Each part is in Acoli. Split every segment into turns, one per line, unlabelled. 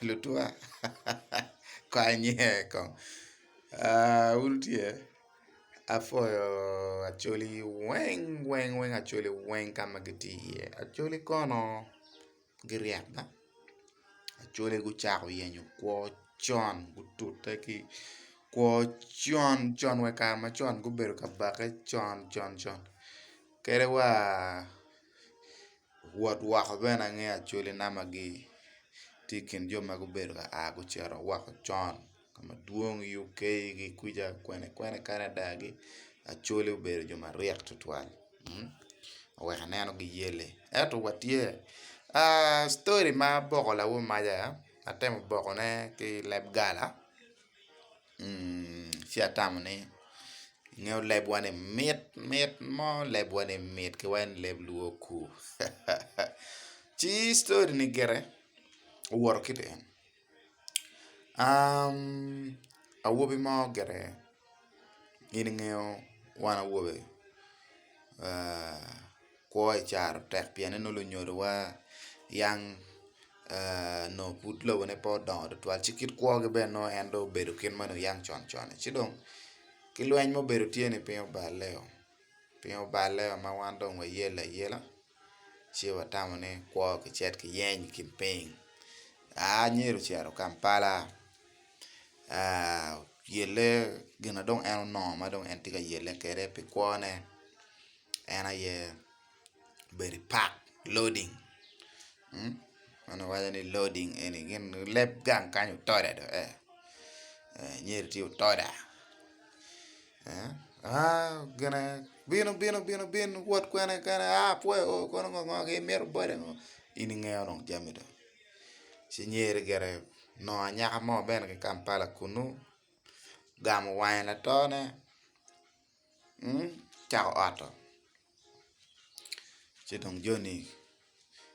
Lutwa kanye kong aah un tye apwoyo Acholi weng weng weng Acholi weng ka ma gitye iye Acholi kono giryek ma Acholi gucako yenyo kwo con gutute ki kwo con con wa i kare macon gubedo ka bakke con con con kadi wa. wot woko bene angeyo acholi namba gi tye i kin jo ma gubedo ka a gucito woko con ka ma dwong i UK gi kwica kwene kwene Canada gi acholi obedo jo maryek tutwal oweko aneno gi yelle ento wa tye story ma boko lawo maca atemo boko ne ki leb gala. Ci atamo ni ingeyo lebwa ni mit mit mo lebwa ni mit ki wai ni leb luo kur ci story ni gire owoto kiti eni awobi mo gire in ingeyo wan awobe kwo i caro tek pien nongo lunyodowa yang nongo pud lobone pe odongo tutwal ci kit kwogi bene nongo en dong obedo kit ma oyang con con-ni ci dong ki lweny ma obedo tye-ni piny oballe-o piny oballe ma wan dong wayelo ayela ci watamo ni kwo kicit kiyeny i kin piny aa nyer ocito Kampala oyelle gin ma dong en onongo ma dong en tye ka yelle kwede pi kwone. en aye obedo i pak loading ma kiwaco ni loading eni gin leb gang kany otoda dok ee nyedo tye otoda gine bino bino bino bin wot kwene kene a apwoyo o kono ngo ngo gin mito bode ngo in ingeyo dong jami dong ci nyer gire onongo anyaka mo bene ki Kampala kunu ogamo wange latone. cako oto ci dong joni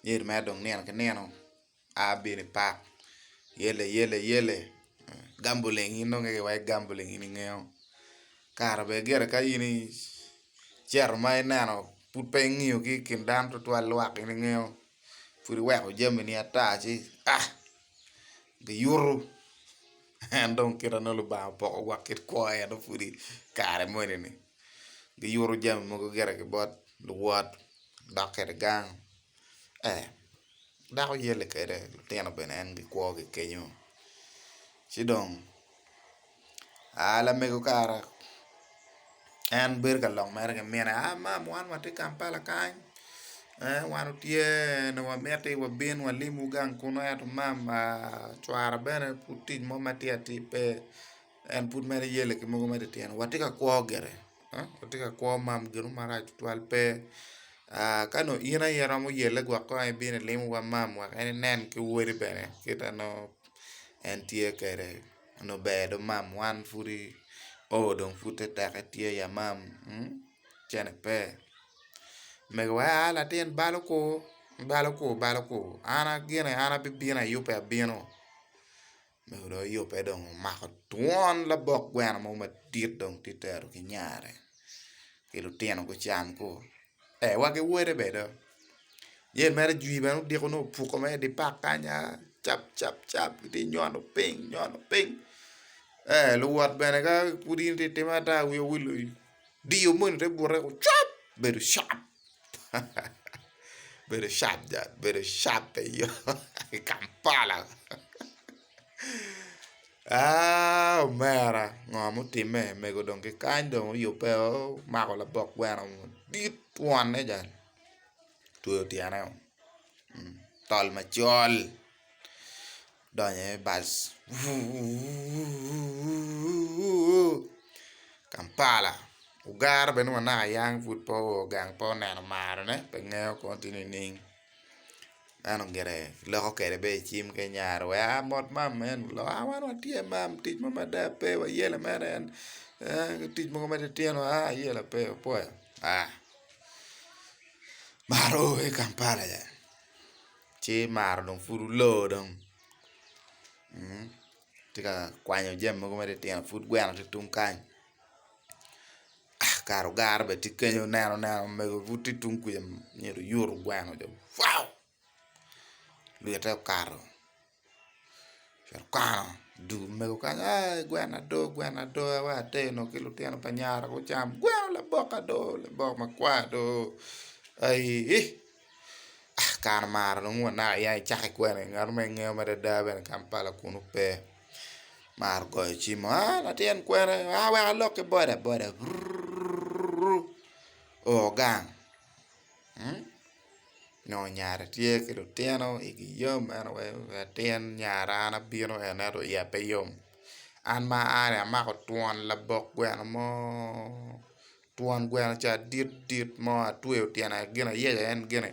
nyedo mere dong nino ki nino a bino i pak yelle yelle yelle gambling in dong keke iwaco gambling in ingeyo kara bene gire ka in icito ma ineno pud pe ingiyo ki i kin dano tutwal lwak in ingeyo pud iweko jamini ata ci giyuto. En dong kit ma nongo Lubanga opoko wa kit kwo en dong pudi kare moni ni giyuto jami mogo gire ki bot luwot gidok kwede gang ee dako yelle kwede lutino bene en gikwogi kenyo ci dong aa lamego kara. en bedo ka lok mere ki mine a mam wan watye Kampala kany wan otye nyo wamiti wabin walimwu gang kunu ento mam cwara bene pud tic mo matir atir pe en pud mere yelle ki mogo mere ityene watye ka kwo gire watye ka kwo mam ginu marac tutwal pe ka nongo in aye iromo yelle gwok kong aye ibino ilimo wa mam wek en inen ki wode bene kita nongo en tye kede. Onongo ber do mam wan pudi oo dong pud te teke tye i amam cene pe megiwa aa latin balo kur balo kur balo kur an gine an abibino ayubbe abino mego dong oyubbe dong omako twon labok gweno mo madit dong tye tero ki nyare ki lutino gucam koo. ee wa ki wode bene do jami mere jwi bene odiko nongo opuko mere idi pak kany aa cap cap cap gitye nyono piny nyono piny ee luwot bene ka pud in itye ka timme ata wi owil wi odiyo moni te bute woko cwap bedo sharp bedo sharp jang bedo sharp eyo i kampala. Aaa omera ngo ma otime mego dong kikany dong oyube o omako labok gweno madit twon adada otweyo tyene o tol macol odonyo aye bal wuuuuuuuuu Kampala ogero bene wa naka yang pud pe ogange pe oneno marone pe ngeyo kong tye nining. Meno gire kiloko kwede bene i cim kenya wek aa mot mam man lok a wan watye mam tic mo mada pe wayelo mere en tic mogo ma titino a ayelo pe apoyo a mar o i Kampala ci mar dong pud olo dong. tye ka kwanyo jami mogo ma titino pud gweno tye tung kany kare ogara bene tye kenyo ineno neno omego pud tye tung kuca myero oyutu gweno ca waoo lwite okato myero okwano dul omego kany aii gweno ado gweno ado wa ater onongo ki lutino pa nyara gucam gweno labok ado labok makwar ado aii. kare mara nongo wanaka ya i cake kwene ngat ma ingeyo madada bene kampala kunu pe maro goyo cim a latin kwena a wek alok ki boda boda rurururu o gang nyo nyare tye ki lutino igi yom en aye latin nyare an abino en ento iya pe yom an ma ani amako twon labok gweno mo. twon gweno ca dit dit mo atweyo tyene gin ayecca en gine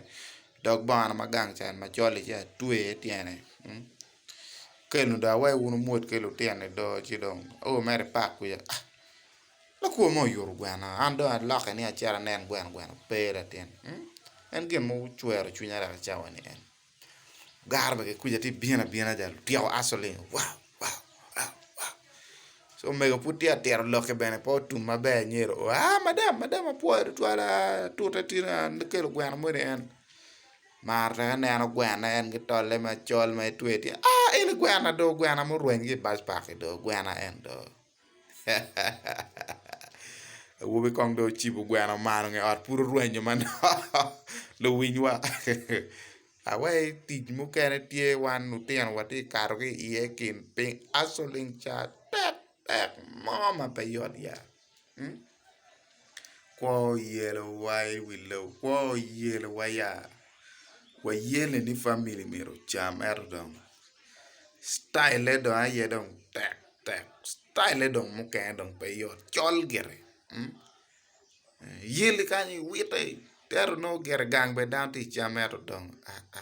dog bongona ma gang ca en macol li ca atweye i tyene keno dong awayi wun wumwod ki lutino i do ci dong o mere i pak kwica ah lakwor mo oyuto gwena an dong alokke ni acit anen gweno gweno pe latin en gin mucwero cwinya dok i cawa ni en. Gar ma ki kwica tye bino abina ja lutyeko asoling wow wow wow wow ci omego pud tye ka tito lokke bene pe otum maber anyedo oo aa madam madam apwoyo tutwal aa tute tye ni aa ni kelo gweno moni en mar twero neno gweno en ki tolle macol ma itweyo tye aa eni gwena dong gwena murwenyo ki i backpack-ki dong gwena en dong Awobi kong dong ocibo gweno malo nge ot pud orwenyo manok luwiny wa awaci tic mukene tye wan lutino watye kato ki iye kin piny aco leng ca tek tek mo ma pe yot ya. Kwo oyelo wa i wi lobo kwo oyelo wa ya wayele ni family myero ocam ento dong cityle dong aye dong tek tek cityle dong mukene dong pe yot col gire yel kany iwite ento nongo gire gang bene dano tye ka cam ento dong aa.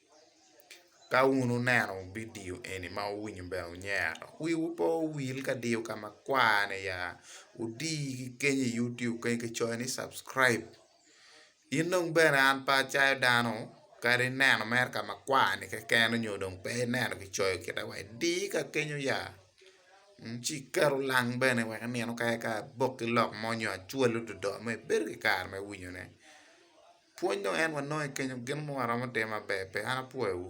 Ka wun wuneno bidio eni ma wuwinyo ber wunyero, wiwu pe owil ka diyo ka ma kwar-ni ya, wudi ki kenyo i Youtube kany ki coyo ni subscribe. In dong bene an pe acayo dano kadi neno mere ka ma kwar-ni keken nyo dong pe ineno ki coyo kita wa idi ka kenyo ya, ci iketo lang bene wek nino kayaka abok ki lok mo nyo acwal ododoo ma ibedo ki kare me winyone. Pwony dong en wanongo i kenyo gin mo aromo timo maber pe? An apwoyowu.